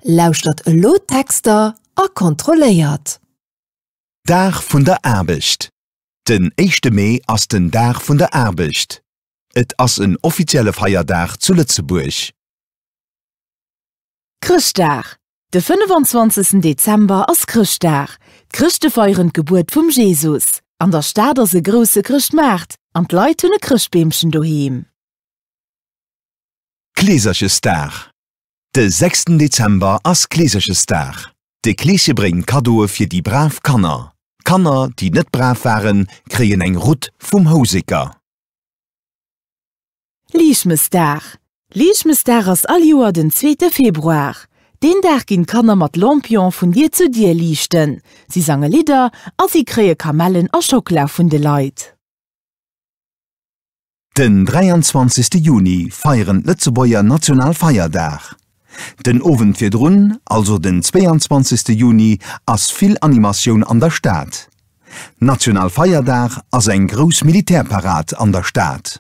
Lauschtert elo d'Texter a kontrolléiert! Dag vun der Aarbecht Den éischte Mee ass den Dag vun der Aarbecht. Et ass en offizielle Feierdag zu Lëtzebuerg. Chrëschtdag De 25 Dezember ass Chrëschtdag. D'Chrëschte feieren d'Gebuert vum Jesus. An der Stad ass e grousse Chrëschtmaart an d'Leit hunn e Chrëschtbeemchen doheem. Kleeserchesdag De sechsten Dezember ass Kleeserchesdag. De Kleesche bréngt Kaddoe fir déi brav Kanner. Kanner, déi net brav waren, kréien eng Rutt vum Houseker. Liichtmesdag. Liichtmesdag ass all Joer den zweete Februar. Deen Dag ginn d'Kanner mat Lampion vun Dier zu Dier liichten. Si sange Lidder a si kréie Kamellen a Schockela vun de Leit. Den 23 Juni feieren d'Lëtzebuerger national Feierdag. Den Owend virdrun, also den 22 Juni, ass vill Animatioun an der Stad. National Feierdag ass eng grouss Militärparad an der Stad.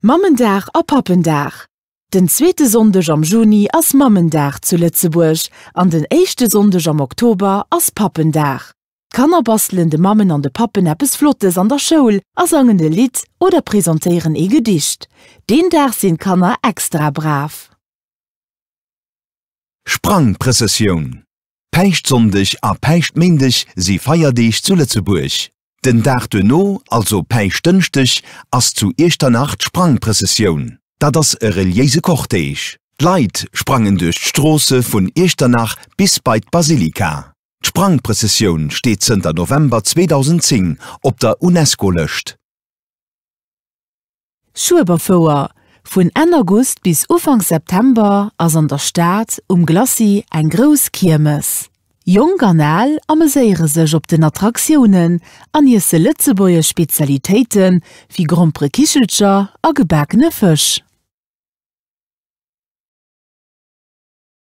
Mammendag a Pappendag, Den zweete Sonndeg am Juni ass Mammendag zu Lëtzebuerg an den éischte Sonndeg am Oktober ass Pappendag. D'Kanner bastelen de Mammen an de Pappen eppes Flottes an der Schoul a sangen e Lidd oder presentéieren ee Gedicht. Deen Dag sinn d'Kanner extra brav. Sprangprëssessioun, Päischtsonndeg a Päischtméindeg si Feierdeeg zu Lëtzebuerg. Den Dag duerno, also Päischtdënschdeg, ass zu Iechternach d'Sprangprëssessioun. Dat ass e reliéise Cortège. D'Leit sprangen duerch d'Stroosse vun Iechternach bis bei d'Basilika. D'Sprangprëssessioun steet zënter November 2010 op der UNESCO-Lëscht. Schueberfouer, Vun Enn August bis Ufank September ass an der Stad um Glacis eng grouss Kiermes. Jonk an Al ameséiere sech op den Attraktiounen an iesse lëtzebuergesch Spezialitéite wéi grompere Kichelcher a gebakene Fësch.